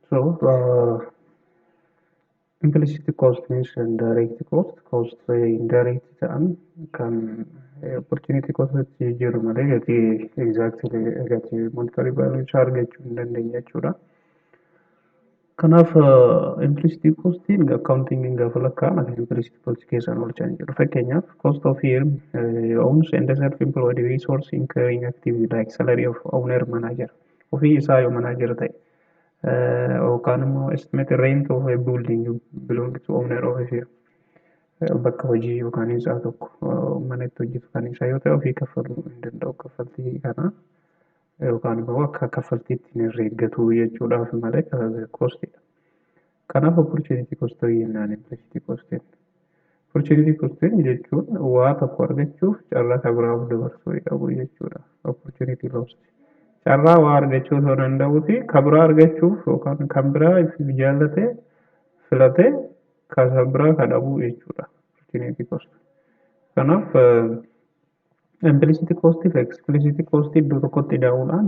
So uh, implicit cost means indirect cost, cost indirect ta'an kan opportunity cost itti jijjiiru malee gatii exactly gatii monetary value isaa argachuu hin dandeenye jechuudha. Kanaaf implicit costiin accounting gaafa lakkaa'an akka implicit cost keessaan oolchan jedhu. Fakkeenyaaf cost of firm uh, owns and self-employed resource incurring activity like salary of owner manager. ofii isaa yoo manaa jira ta'e yookaan immoo estimate rent of a building belong to owner of a bakka hojii yookaan isaa tokko mana itti hojjetu kan isaa yoo ta'e ofii kaffaluu hin danda'u kaffaltii kana yookaan immoo akka kaffaltiitti hin herreeggatu jechuudhaaf malee koostidha. Kanaaf opportunity cost jennaan implicit cost jenna. Opportunity cost jechuun waa tokko argachuuf carraa isa biraa of dabarsuu dhabuu jechuudha. Opportunity loss. Carraa waa argachuu osoo danda'uuti kan biraa argachuuf yookaan kan biraa ifiif jaallate filate kan isa biraa kan dhabuu jechuudha. Opportunity cost. Kanaaf implicit cost fi explicit cost iddoo tokkotti daa'uudhaan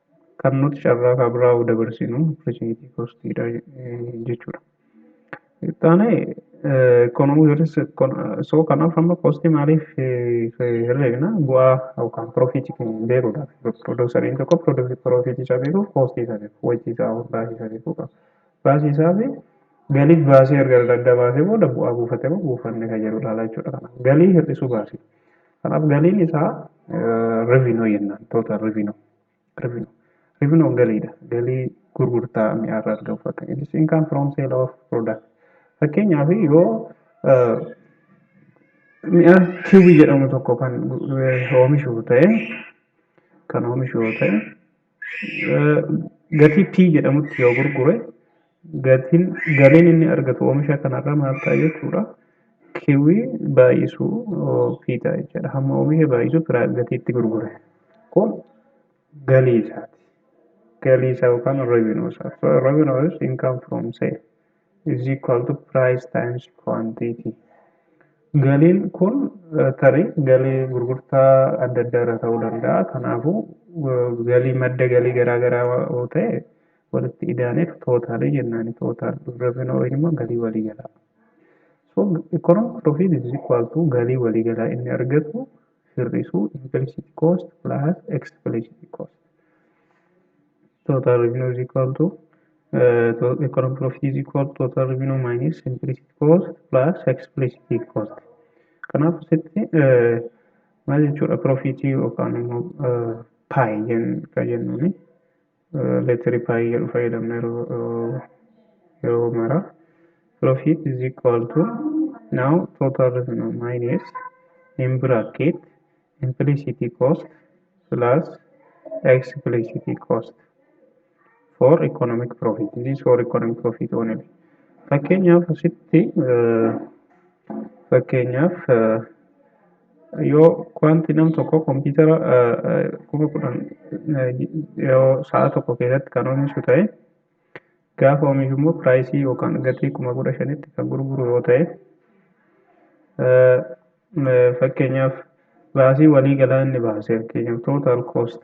kan nuti carraa kan biraa of dabarsinu opportunity cost dha jechuudha. Itti aanee economic risk so kanaaf amma cost maaliif herreegna bu'aa yookaan profit beekuudha. Produseriin tokko profit isaa beekuuf cost isaa beeku wajjii isaa baasii isaa beekuu qaba. Baasii isaa fi galiif baasii erga adda baasee booda bu'aa buufatee moo buufanne kan jedhu ilaala jechuudha. Galii hir'isuu baasii. Kanaaf galiin isaa revenue jennaan total revenue revenue revenue galiidha galii gurgurtaa mi'aa irraa argamu fakkaata it is income from sale of product fakkeenyaaf yoo mi'a kiwii jedhamu tokko kan oomishu ta'e kan oomishu yoo ta'e gatii P jedhamutti yoo gurgure gatiin galiin inni argatu oomisha kanarraa maal ta'a jechuudha. Kiwii baay'isuu P ta'a jechuudha. Hamma oomisha baay'isuu firaa gatiitti gurgure. Kun galii isaati. Galii isaa yookaan revenue isaati. So revenue is income from sale. is equal to price times quantity galiin kun tarii galii gurgurtaa adda addaa irra ta'uu danda'a kanaafuu galii madda galii garaa garaa yoo ta'e walitti idaaneef tootaalii jennaan tootaal revenue yookiin immoo galii waliigalaa so economic profit is equal to galii waliigalaa inni argatu hir'isu implicit cost plus explicit cost total revenue is equal to uh, to economic profit is equal to total revenue minus implicit cost plus explicit cost kanaaf asitti uh, maal jechuudha profitii yookaan immoo uh, paayi kan jennuuni leeteri paayii jedhu fayyadamna yeroo mara profit is equal to now total revenue minus in bracket implicit cost plus explicit cost for economic profit this is for economic profit only fakkeenyaaf asitti fakkeenyaaf yoo wanti nam tokko kompiitara kuma kudhan yoo sa'a tokko keessatti kan oomishu ta'e gaafa oomishu immoo piraayisii yookaan gatii kuma kudha shanitti kan gurguru yoo ta'e fakkeenyaaf baasii walii galaa inni baase fakkeenyaaf tootaal koost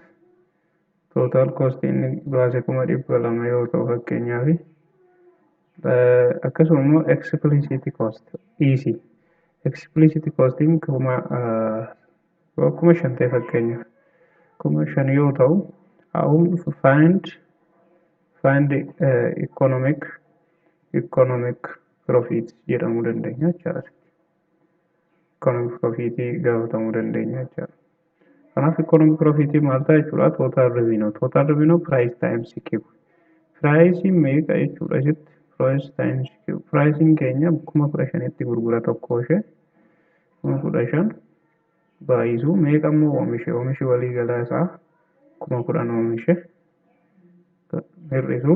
tootaal koost inni baase kuma dhibba lama yoo ta'u fakkeenyaaf akkasuma immoo explicit cost dhiisi explicit costiin kuma kuma shan ta'e fakkeenyaaf kuma shan yoo ta'u haa'uun find find economic economic profit jedhamuu dandeenya jechaadha. Economic profit gaafatamuu dandeenya jechuudha. Kanaaf economic profit maal ta'a jechuudha? Total revenue. Total revenue price times Q. Piraayisiin meeqa jechuudha asitti? Price times Q. Piraayisiin keenya kuma kudha shanitti gurgura tokkoo ishee. Kuma kudha shan baay'isu meeqa immoo oomishe? Oomishi walii galaa isaa kuma kudhan oomishe. Hir'isu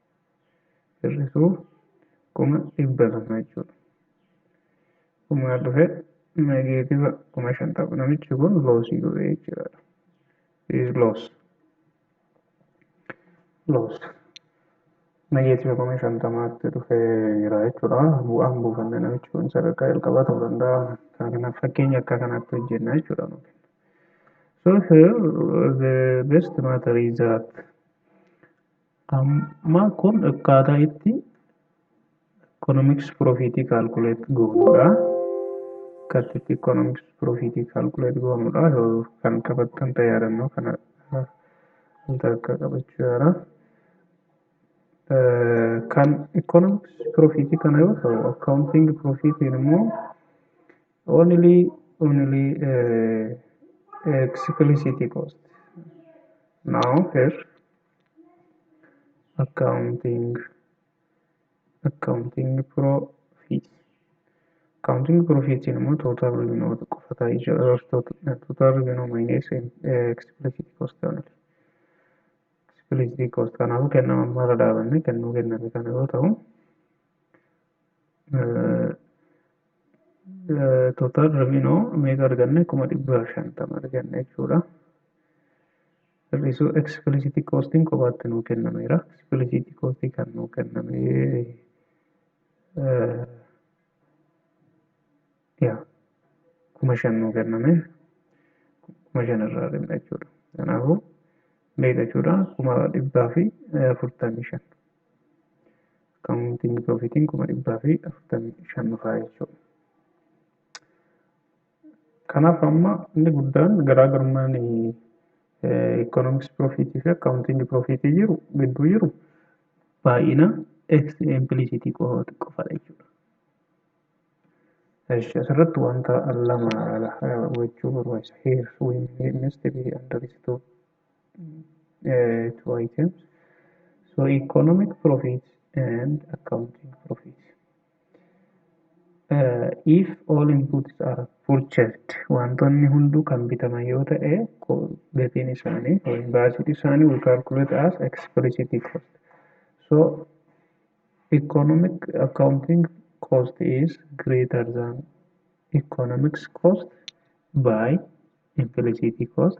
hir'isuuf kuma dhibba lama jechuudha. Kumaa dhufe negeetiva kuma shantama namichi kun loosii godhe jechuudha. Is loos. Loos. Negeetiva kuma shantamaatti dhufe jira jechuudha. Bu'aan buufanne namichi kun sadarkaa jalqabaa ta'uu danda'a. Kanaaf fakkeenya akka kanaatti hojjenna jechuudha. So here the best matter is that Amma kun akkaataa itti economics profit calculate goonudha. Akkaataa itti economics profit calculate goonudha. Kan qabattan ta'e yaadannoo kana wanta akka qabachuu yaala. Kan economics profit kana yoo ta'u accounting profit immoo only only explicit cost. Now here accounting accounting profit accounting profit immoo total revenue qofa ta'ee jira total revenue minus explicit cost only explicit cost kanaafuu kennama amma irra dhaabanne kennuu kenname kana yoo ta'u total revenue meeqa arganne kuma dhibba shantama arganne jechuudha. hir'isuu explicit costing kophaatti nuu kennameera explicit costing kan nuu kenname yaa kuma shan nuu kenname kuma shan irraa dhimma jechuudha kanaafuu meeqa jechuudha kuma dhibbaa fi afurtamii shan accounting profitiin kuma dhibbaa fi afurtamii shan dhufaa jechuudha Kanaaf amma inni guddaan garaagarummaan economics profit fi accounting profit jiru gidduu jiru baay'ina x implicit qofadha jechuudha. Eshi asirratti wanta lama hubachuu barbaachisa. Here we must be understood uh, two items. So economic profit and accounting profit. if all inputs are purchased wantoonni hunduu kan bitaman yoo ta'e gatiin isaanii yookiin baasiin isaanii we calculate as explicit cost so economic accounting cost is greater than economics cost by implicit cost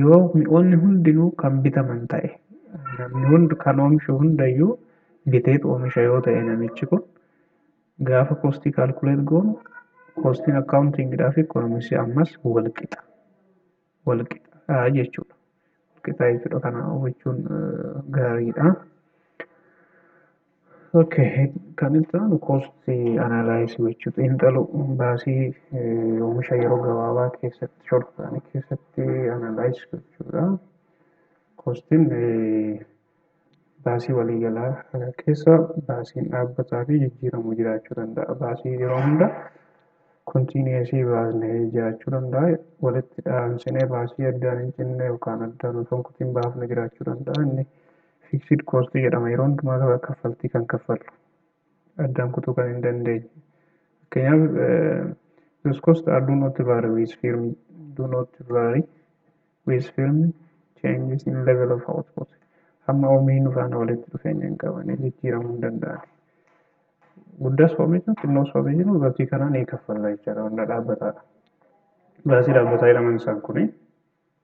Yoo mi'oonni hundinuu kan bitaman ta'e, namni hundi kan oomishu hundayyuu biteet oomisha yoo ta'e namichi kun gaafa kostii kaalkuleet goonu kostiin akkaawuntiingidhaa fi ikonomiksii ammas wal qixa. Wal qixaa jechuudha. Wal qixaa jechuudha kana hubachuun gaariidha. Okay, kan itti aanu koosti analaayisii gochuu xiinxaluu baasii eh, oomisha yeroo gabaabaa keessatti short ta'anii keessatti analaayisii gochuudha. Koostiin eh, baasii waliigalaa eh, keessa baasiin dhaabbataa fi jijjiiramu jiraachuu danda'a. Baasii yeroo hunda kontiiniyeesii baasnee jiraachuu danda'a. Walitti dhaansinee baasii addaan hin cinne yookaan addaan osoo hin kutin baafne jiraachuu danda'a. Inni fiiksidi koostii jedhama. Yeroo hundumaa kaffaltii kan kaffallu addaan kutuu kan hin dandeenye. Fakkeenyaaf those costs are do not vary with firm do not vary with firm changes in level of output. Hamma oomishni faana walitti dhufeenya hin qabne jijjiiramuu hin danda'an. Guddaas oomishnu xinnoos oomishnu gatii kanaan ni kaffalla jechaadha. Wanna dhaabbataadha. Baasii dhaabbataa jedhaman isaan kuni.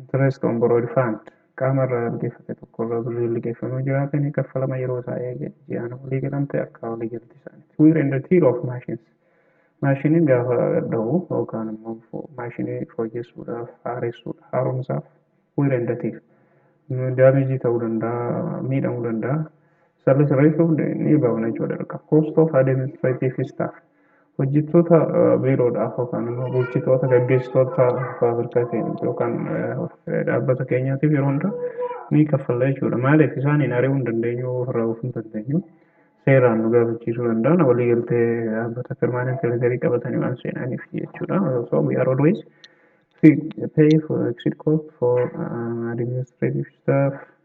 Interest on borrowed fund qaama irraa liqeeffate tokko irraa birriin liqeeffamee jiraate ni kaffalama yeroo isaa eege ji'aan walii galamte akka walii galti isaaniiti. Wear and tear of machines maashiniin gaafa dha'u yookaan immoo maashinii fooyyessuudhaaf haaressuudhaaf haaromsaaf wear and tear daameejii ta'uu danda'a miidhamuu danda'a Sirna sirreessuuf ni baafna jechuudha dirqama. Cost of administrative staff. Hojjettoota biiroodhaaf yookaan immoo bulchitoota gaggeessitoota faabirikaa keenyaaf yookaan dhaabbata keenyaatiif yeroo hundaa ni kaffalla jechuudha. Maaliif isaan hin ari'uu hin dandeenyu ofirraa oofuu hin dandeenyu. Seeraan nu gaafachiisuu danda'an walii galtee dhaabbata permanent legarii qabatanii waan seenaniif jechuudha. So we are always pay for exit cost for uh, administrative staff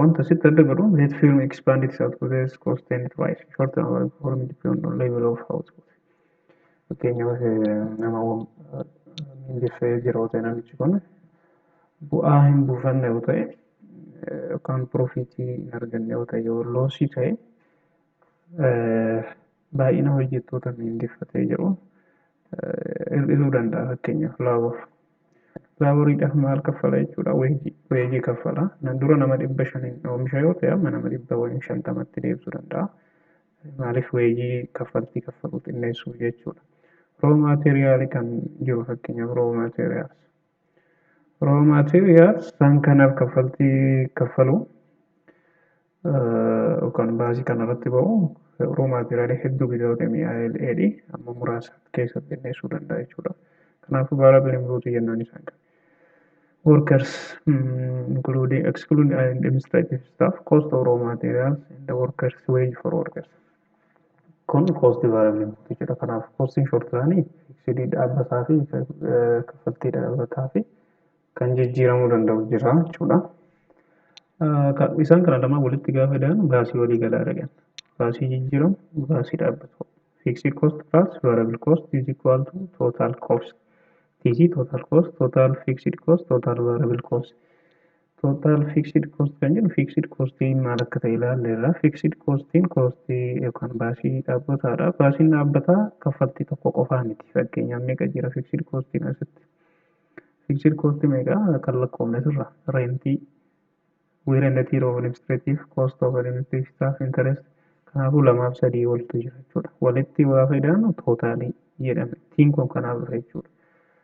wanta asitti adda godhu that firm expand its output as cost and price short term or perform depend on level of output fakkeenyaaf nama mindeffee jira yoo ta'e namichi kun bu'aa hin buufanne yoo ta'e yookaan piroofiitii hin arganne yoo ta'e yoo loosii ta'e baay'ina hojjettoota miindeffatee jiru hir'isuu danda'a fakkeenyaaf laabor. Laaboriidhaaf maal kaffala jechuudha weejii weejii kaffala. Na dura nama dhibba shaniin oomisha yoo ta'e amma nama dhibba waliin shantamatti deebisuu danda'a. Maaliif weejii kaffaltii kaffaluu xinneessuu jechuudha. Roo maateeriyaalii kan jiru fakkeenyaaf roo maateeriyaals. Raw materials isaan kanaaf kaffaltii kaffalu yookaan baasii kanarratti ba'u raw material hedduu bita yoo ta'e mi'aa'el dheedhi amma muraasa keessatti xinneessuu danda'a jechuudha. Kanaafuu baala bilimruuti jennaan isaan kan. Workers including excluding administrative staff cost of raw materials and the workers wage for workers. kun koostii vaarabilitii jedha kanaaf koostiin shortiraanii fiiksidii dhaabbataa fi kaffaltii dhaabbataa fi kan jijjiiramuu danda'u jira jechuudha. Isaan kana lamaan walitti gaafa daanu baasii walii galaa dhagan. Baasii jijjiiramu, baasii dhaabbatu. Fiiksii koost plus vaarabil koost is equal to total koost. Tiisii total koost, total fiiksidi koost, total vaarabil koost. Total fixed cost kan jedhu fixed costiin maal akka ta'e ilaalleerra. Fixed costiin costii yookaan baasii dhaabbataadha. Baasiin dhaabbataa kaffaltii tokko qofaa miti. Fakkeenyaaf meeqa jira fixed costiin asitti? Fixed cost meeqa kan lakkoofne sirra? Rentii, wear and tear of administrative cost of administrative staff interest kanaafuu lamaaf sadii oltu jira jechuudha. Walitti waa fayyadamu tootaalii jedhama. Tiin kun kanaaf dhufe jechuudha.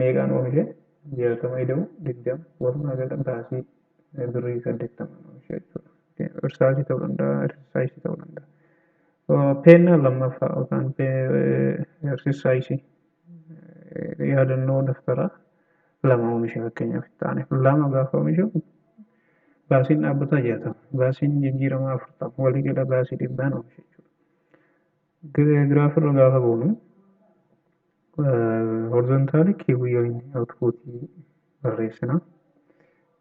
Meeqaan oomishe? 60 ida'u 20 walumaa gala baasii birrii 80 oomishe jechuudha. Irsaasii ta'uu danda'a, irsaayisii ta'uu danda'a. Peennaa lammaffaa yookaan irsaayisii yaadannoo daftaraa lama oomishe fakkeenyaaf itti aaneef lama gaafa oomishu baasiin dhaabbataa 60 baasiin jijjiiramaa 40 walii gala baasii dhibbaan oomishe jechuudha. Giraaf irra gaafa goonu horizontaali kiiwii yookiin outpuutii barreessina.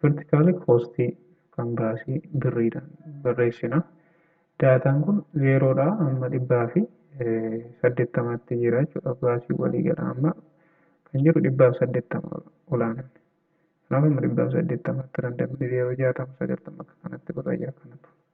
Vertikaali koostii kan baasii birriidhaan barreessina. Daataan kun zeeroodhaa amma dhibbaa fi saddeettamaatti jira jechuudha. Baasii waliigala amma kan jiru dhibbaaf saddeettama olaanaan. Kanaaf amma dhibbaaf saddeettamaatti randamni zeeroo jaatama sagaltama akka kanatti birra ja'a kanatu.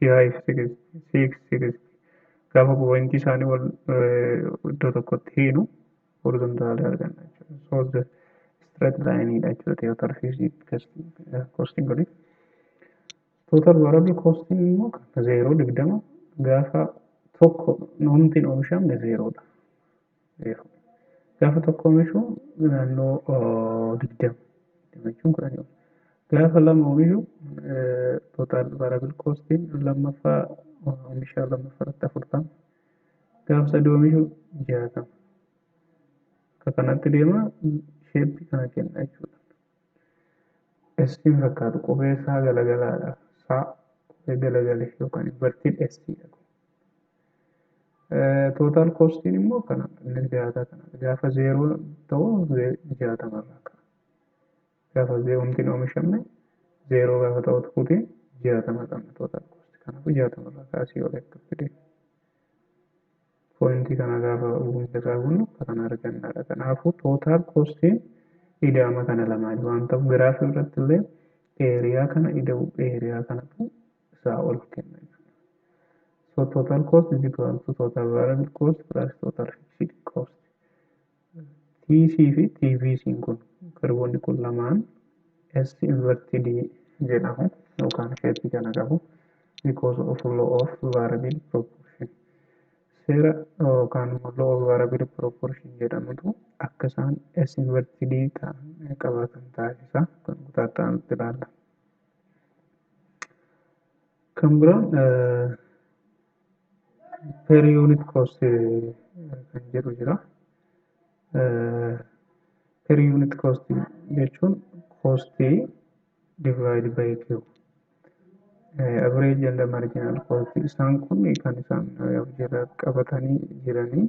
5, 6, 6, 6. Gaafa poointii isaanii wal iddoo tokkotti hiinu horizontaalii arganna jechuudha. So the straight line dha jechuudha total fixed costing oli. Total variable costing immoo kan zeeroo digdama gaafa tokko homtiin oomishamne zeeroodha. zeeroo. Gaafa tokko oomishu naannoo digdama digdama jechuun kudhanii ol. Gaafa lama oomishu tootaal vaarabil koostiin lammaffaa oomisha lammaffaa irratti afurtama. Gaafa sadii oomishu jaatama. Akka kanatti deema sheeppi kana kenna jechuudha. Estiin fakkaatu qubee isaa galagalaadha. Isaa qubee galagale yookaan inverted estiidha. Tootaal koostiin immoo kana inni dhiyaataa kana gaafa zeeroo ta'u jaatama irraa ka'a. Gaafa zeeromtiin oomishamne zeeroo gaafa ta'u tukuutiin jaatama qabna tootaal koostii kanaafuu jaatama irraa kaasii olee akka fide. Pooyintii kana gaafa hunda isaa guunnu akka kana argannaadha. Kanaafuu tootaal koostiin idaama kana lamaanii waan ta'u giraafii irratti illee eeriyaa kana ida'u eeriyaa kanatu isaa ol kenna jechuudha. So total cost is equal to total variable cost plus total fixed cost. TC fi TVC kun kirboonni kun lamaan S inverted jedhamu yookaan shape kana qabu because of law of variable proportion. Seera yookaan immoo law of variable proportion jedhamutu akka isaan S inverted ta'an qabaatan taasisa kan kutaa ta'anutti ilaalla. Kan biraan per unit cost kan jedhu jira. Per unit cost jechuun kostii divide by Q. Average and marginal cost isaan kun kan isaan of jalaa qabatanii jiranii.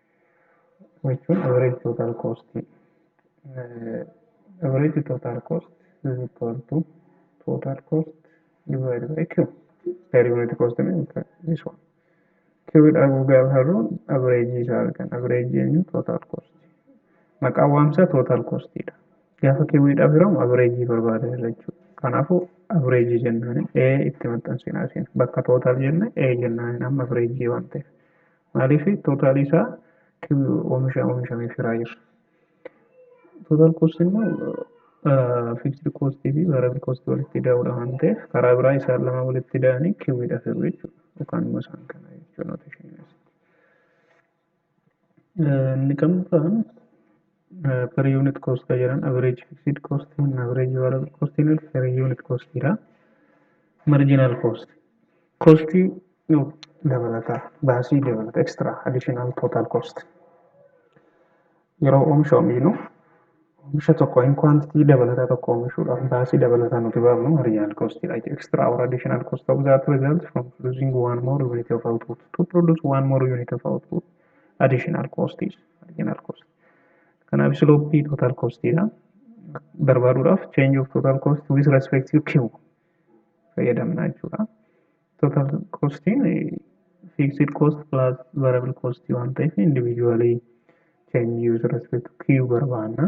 jechuun average total cost average total cost is equal to total cost divided by q per unit cost means this one q dha gaafa harruun average isaa argan average eenyu total cost maqaa waamsaa total cost dha gaafa q dhaaf hiramu average barbaada irra jechuudha kanaafuu average jennaan a itti maxxansinaa isin bakka total jenne a jennaan amma average waan ta'eef Maaliif tootaalii isaa oomisha oomishamee firaa jira. Tootaal koostii immoo fiiksidi koostii fi vaarabil koostii walitti ida'uudha waan ta'eef karaa biraa isaan lama walitti ida'anii kiwwiidha firu jechuudha. Yookaan immoo isaan kana jechuudha nooteshinii keessatti. Inni kan biraan per unit cost ka jedhan average fixed cost and average variable cost ni per unit cost dha marginal cost cost dabalata baasii dabalata extra additional total cost yeroo oomisha oomishnu oomisha tokko in quantity dabalata tokko oomishuudhaaf baasii dabalata nuti baafnu marginal cost dha extra or additional cost of that result from producing one more unit of output to produce one more unit of output additional cost is marginal cost kanaaf slope total cost dha barbaaduudhaaf change of total cost with respect to q fayyadamna jechuudha total costiin fixed cost plus variable cost waan ta'eef individually change with respect to q barbaanna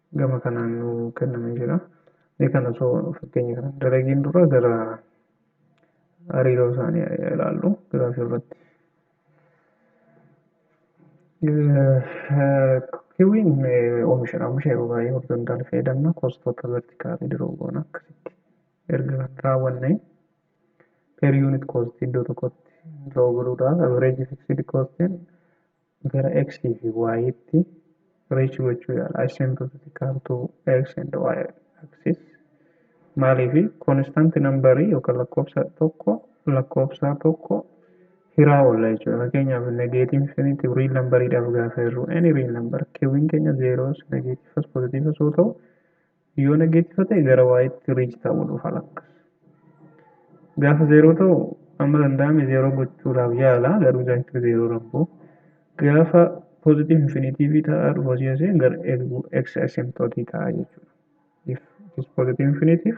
gama kanaan nu kennamee jira. Mee kan osoo fakkeenya kanaan dalagiin dura gara hariiroo isaanii ilaallu giraafii irratti. Kiwiin oomishadha. Oomisha yeroo baay'ee horizontaal fayyadamna. Koostoota vertikaalii diroo goona akkasitti erga raawwanne per unit cost iddoo tokkotti diroo godhuudha. Average fixed costiin gara x fi y tti reach gochuu yaala asymptotic curve to x and y axis maaliif constant number yookaan lakkoofsa tokko lakkoofsa tokko hiraa oolla jechuudha fakkeenyaaf negative infinity real number dhaaf gaafa jirru any real number qwin keenya zeros negatives positives yoo ta'u Yoo neggeetifa ta'e gara waayitti riich ta'uu dhufa lakka. Gaafa zeeroo ta'u amma danda'ame zeeroo gochuudhaaf yaala garuu zaayikilii zeeroo rabboo. Gaafa poozitiiv infiniitiivii ta'aa dhufu asii asii gara x asymptotii ta'aa jechuudha. If it is positive infinitive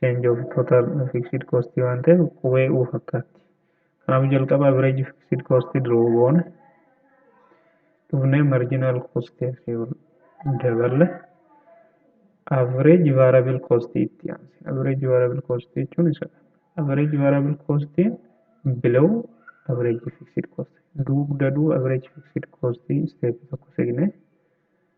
change of total fixed cost waan ta'eef qubee u fakkaatti kanaafuu jalqaba average fixed cost draw goona dhufnee marginal cost daballe average variable cost itti aanse average variable cost jechuun isa average variable cost below average fixed cost dugda du average fixed cost step tokko segne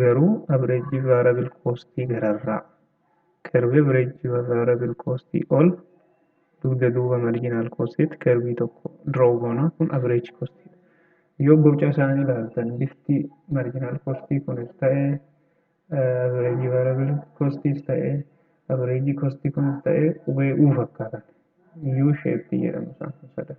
Garuu average variable cost gararraa curve average variable cost ol dugda duuba marginal cost curve tokko draw goona kun average cost yoo boca isaanii ilaaltan bifti marginal cost kunis ta'e average variable costis ta'e average cost kunis ta'e qubee u fakkaatan u shape jedhamu isaan kun sadan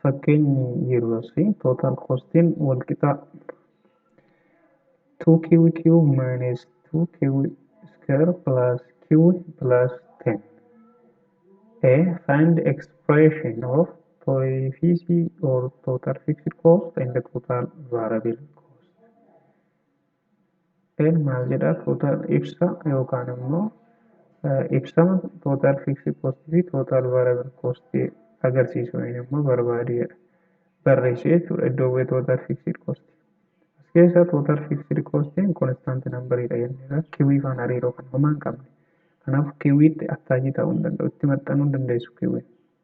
fakkeenyi yeroosi total costin wal qixaa 2qq minus 2q square plus q plus 10 a find expression of coefficient or total fixed cost and total variable cost N maal jedhaa total ibsa yookaan immoo ibsama total fixed cost fi total variable cost agarsiisu yookiin immoo barbaadu jedha. Barreessu jechuudha iddoo bu'ee total fixed cost. As keessaa total fixed cost constant number dha jenneera. Kiwii faan hariiroo kan homaa hin qabne. Kanaaf kiwiitti attaachii ta'uu hin danda'u. Itti maxxanuu hin dandeessu kiwii.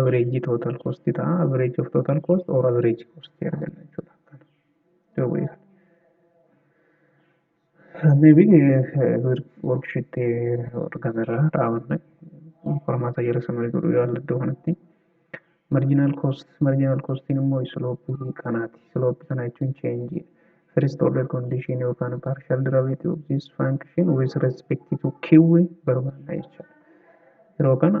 average total cost ta'a average of total cost or average cost arganna jechuudha kana duwwee kana maybe worksheet argame irraa dhaabanna qormaata jala samarii godhuu yaalla iddoo kanatti marginal cost marginal costiin immoo sloopii kanaati sloopii kana jechuun change first order condition yookaan partial derivative of this function with respect to q barbaanna jechuudha yeroo kana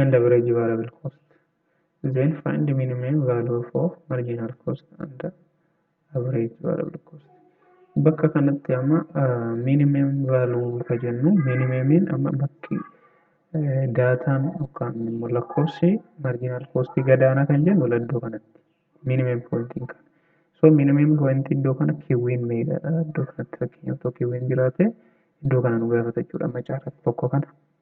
and average variable cost then find the minimum value for marginal cost and average variable cost bakka kanatti amma minimum value ka jennu minimemiin amma bakki daataan yookaan immoo lakkoofsi marginal cost gadaanaa kan jennu laddoo kanatti minimum pointiin kana so minimum point iddoo kana kiwwiin meeqadha iddoo kanatti fakkeenyaaf tokko kiwwiin jiraate iddoo kana nu gaafata jechuudha amma caalatti tokko kana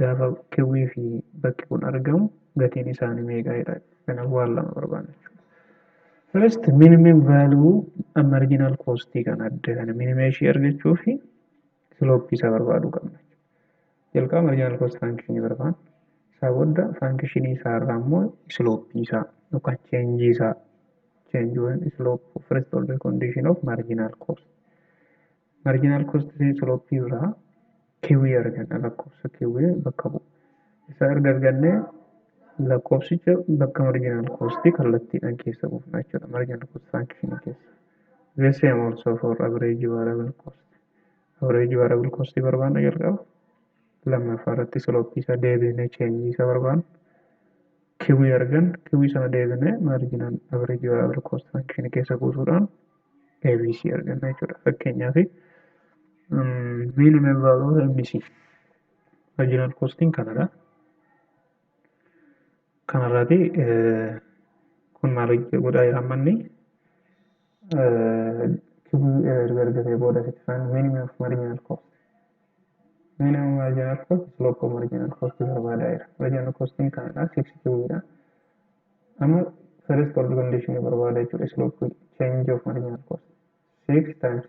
Gaafa kewwii fi bakki kun argamu gatiin isaanii meeqa jedha. Kanaaf waan lama barbaanna jechuudha. First minimum value marginal cost kan adda kana minimum ishii argachuu fi slope isaa barbaaduu qabna. Jalqaba marginal cost function barbaanna. Isaa booda function isaa irraa immoo slope isaa yookaan change isaa change when slope first order condition of marginal cost. Marginal cost fi slope irraa kiwii arganna lakkoofsa kiwii bakka bu'u. Isa erga argannee lakkoofsicha bakka marginal cost kallattiidhaan keessa buufna jechuudha marginal cost function keessa. The same also for average variable cost. Average variable cost barbaanna jalqaba. Lammaffaa irratti slope isaa deebinee change isa barbaanna. Kiwii argan kiwii sana deebinee maarjinaan average variable cost function keessa buusuudhaan ABC arganna jechuudha. Fakkeenyaaf minimum value of MC marginal costing kanadha. Kanarraati kun maal godhaa jira ammanni kibii erga argatee booda sitti faan minimum of marginal cost minimum marginal cost slope of marginal cost barbaadaa jira marginal costiin kanadha 6 kibii dha amma first order condition barbaada jechuudha slope change of marginal cost 6 times 2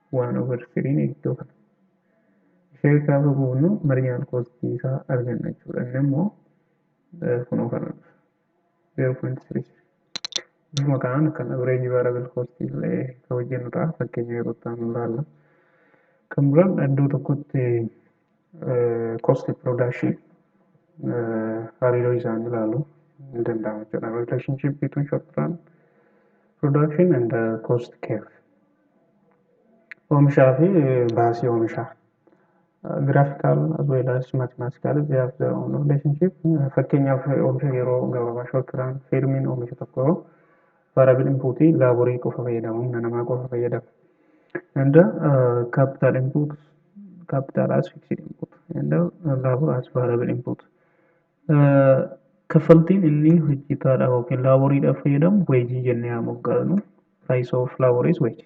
1 over 3 iddoo kana ishee gaafa buufnu marginal cost isaa arganna jechuudha inni immoo kunoo kana dhufa 0.33 bifuma kanaan kan average variable cost illee kan hojjennu ta'a fakkeenya yeroo itti aanu ilaalla kan biraan iddoo tokkotti cost production hariiroo isaanii ilaalu ni danda'ama jechuudha. Relationship between short run production and uh, cost curve. Oomishaa fi baasii oomishaa. Uh, graphical as well as mathematical they have their own relationship. Uh, Fakkeenyaaf oomisha yeroo gabaabaa short run firmiin oomisha tokko Variable input laaborii qofa fayyadama humna namaa qofa fayyadama. And uh, capital input capital as fixed input and uh, labor as variable input. Uh, kaffaltiin inni hojjetaadhaaf yookiin laaboriidhaaf fayyadamu weejii jennee haa moggaasnu. Price of labor is wage.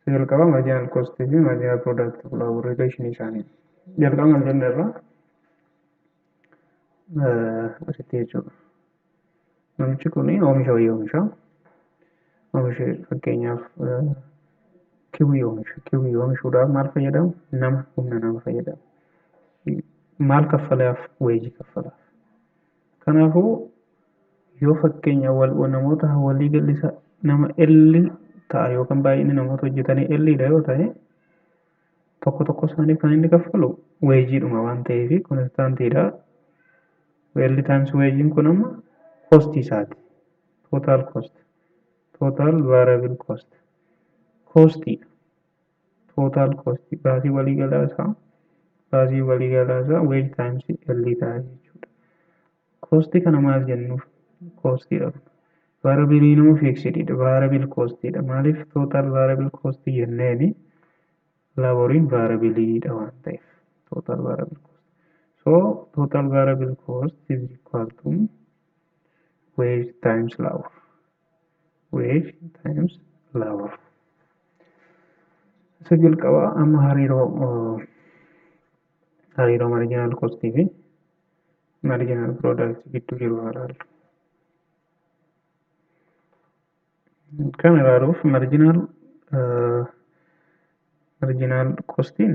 Isa jalqabaa marginal cost fi marginal product relation isaanii jalqaba mal jenne irraa asitti jechuudha. Namichi kun oomisha wayii oomisha. Oomisha fakkeenyaaf kiwii oomisha. Kiwii oomishuudhaaf maal fayyadamu? Nama humna nama fayyadamu. Maal kaffalaaf? Weejii kaffalaaf. Kanaafuu, yoo fakkeenya wal'oo namoota walii galli isaa nama L ta'a yookaan baay'inni namoota hojjetanii L dha yoo ta'e, tokko tokko isaaniif kan inni kaffalu weejiidhuma waan ta'eef konistaantii dha. L times weejiin kun amma koostii isaati. Total cost, total variable cost, koostii dha. total cost baasii waliigalaa isaa baasii waliigalaa isaa wage times L ta'a jechuudha. Cost kana maal jennuuf? Cost dha. Variable immoo fixed dha. Variable cost dha. Maaliif total variable cost jenneeni laboriin variable dha waan ta'eef. Total variable cost. So total variable cost is equal to wage times labor. wave times love isa jalqabaa amma hariiroo hariiroo marginal cost fi marginal product gidduu jiru haa ilaallu. Kan ilaaluuf marginal marginal costiin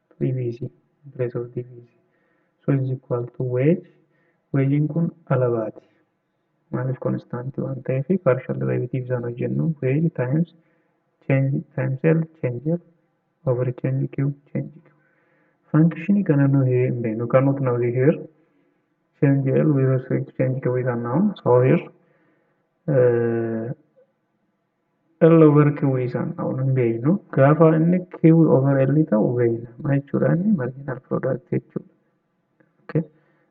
Diviisi, Breath of Diviisi. So is equal to wage. Wage'n kun alabaati. Maaliif konstaantii waan ta'eef partial derivative isaan hojjennu wage times change times L change L over change Q change Q. Fankishinii kana nu hiree hin beeknu. Kan nuti na hojii here change L with respect to change Q is unknown. So here uh, L over Q isaan ta'u hin beeknu. Gaafa inni Q over L ta'u beekna. Maal jechuudha inni marginal product jechuudha. Okay.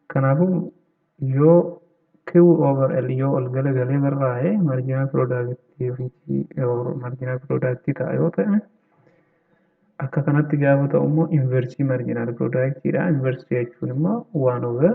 Kanaafuu yoo Q over L yoo ol galagalee barraa'e marginal product or marginal product ta'a yoo ta'e akka kanatti gaafa ta'u immoo inversii marginal product dha. Inversii jechuun immoo 1 over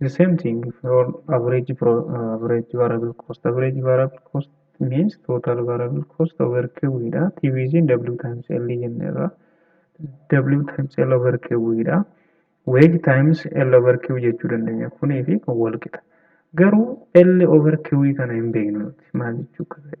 the same thing for average pro, uh, average variable cost average variable cost means total variable cost over q dha tvc w times l jenne irra w times l over q dha wage times l over q jechuu dandeenya kunii fi kun wal qixa garuu l over q kana hin beeknu nuti maal jechuu akka ta'e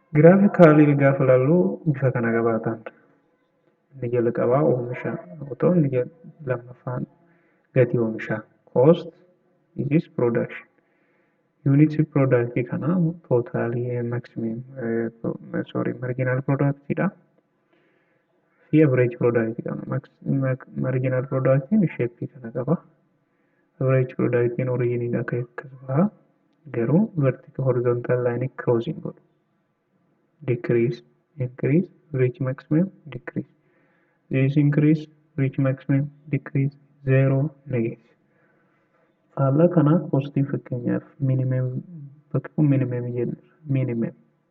Giraafikaalii gaafa ilaallu bifa kana qabaatan. Inni jalqabaa oomisha yoo ta'u inni jal- lammaffaan gatii oomishaa. Cost is production. Yuunitii piroodaaktii kana tootaalii maximum sorry marginal product dha. fi average product qabna. Max- max- Marginal productiin sheeppii kana qaba. Average productiin originiin akka akkas baha. Garuu vertical horizontal line cross hin godhu. Decrease, increase, reach maximum, decrease. This increase, reach maximum, decrease, zero, negative. Faallaa kana positive fakkeenyaaf minimum bakka kun minimum jenna. Minimum.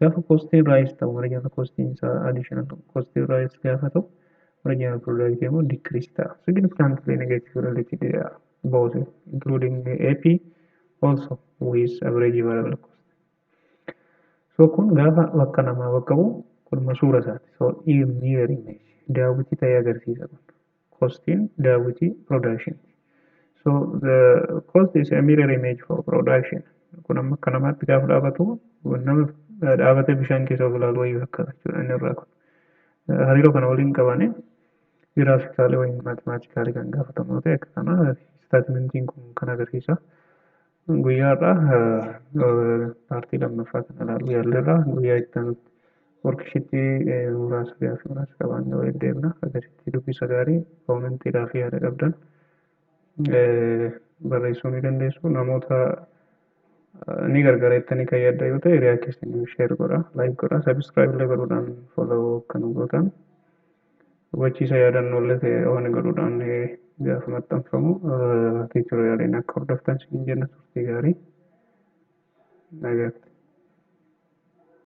Gaafa kostiin raayis ta'u original kostiin isaa additional kostiin raayis gaafa ta'u original product immoo decrease ta'a. Significantly negative related dha. Both including AP also with average variable cost. So kun gaafa bakka namaa bakka bu'u kun masuura isaati. So near image daawwitii ta'ee agarsiisa kun. kostiin daawwitii production ti. So the cost is a mirror image for production. Kun amma akka namaatti gaafa dhaabatu nama dhaabatee bishaan keessa of ilaalu wayii fakkaata jechuudha inni irraa kun. Hariiroo kana waliin qabane giraafikaalee wayii maatimaatikaale kan gaafatamu yoo ta'e akka kana istaatimentiin kun kan agarsiisa. Guyyaa har'aa paartii lammaffaa kan ilaaluu yaalleerra. Guyyaa itti aanutti workishiitii muraasa gaaffii muraasa qabaannee walitti deemna. Akkasitti dubbisa gaarii koomentii gaaffii yaada qabdan barreessuu ni dandeessu. Namoota ni gargaara jettanii kan yaaddan yoo ta'e riyaa keessaniif sheer godha, laayik godha, sabiskiraayib illee godhuudhaan follow akka nu gootan. Hubachiisa yaadannoolle ta'e waan godhuudhaan gaafa maxxanfamu tiitoriyaaleen akka hordoftan siin jenna turtii gaarii. Nagaatti.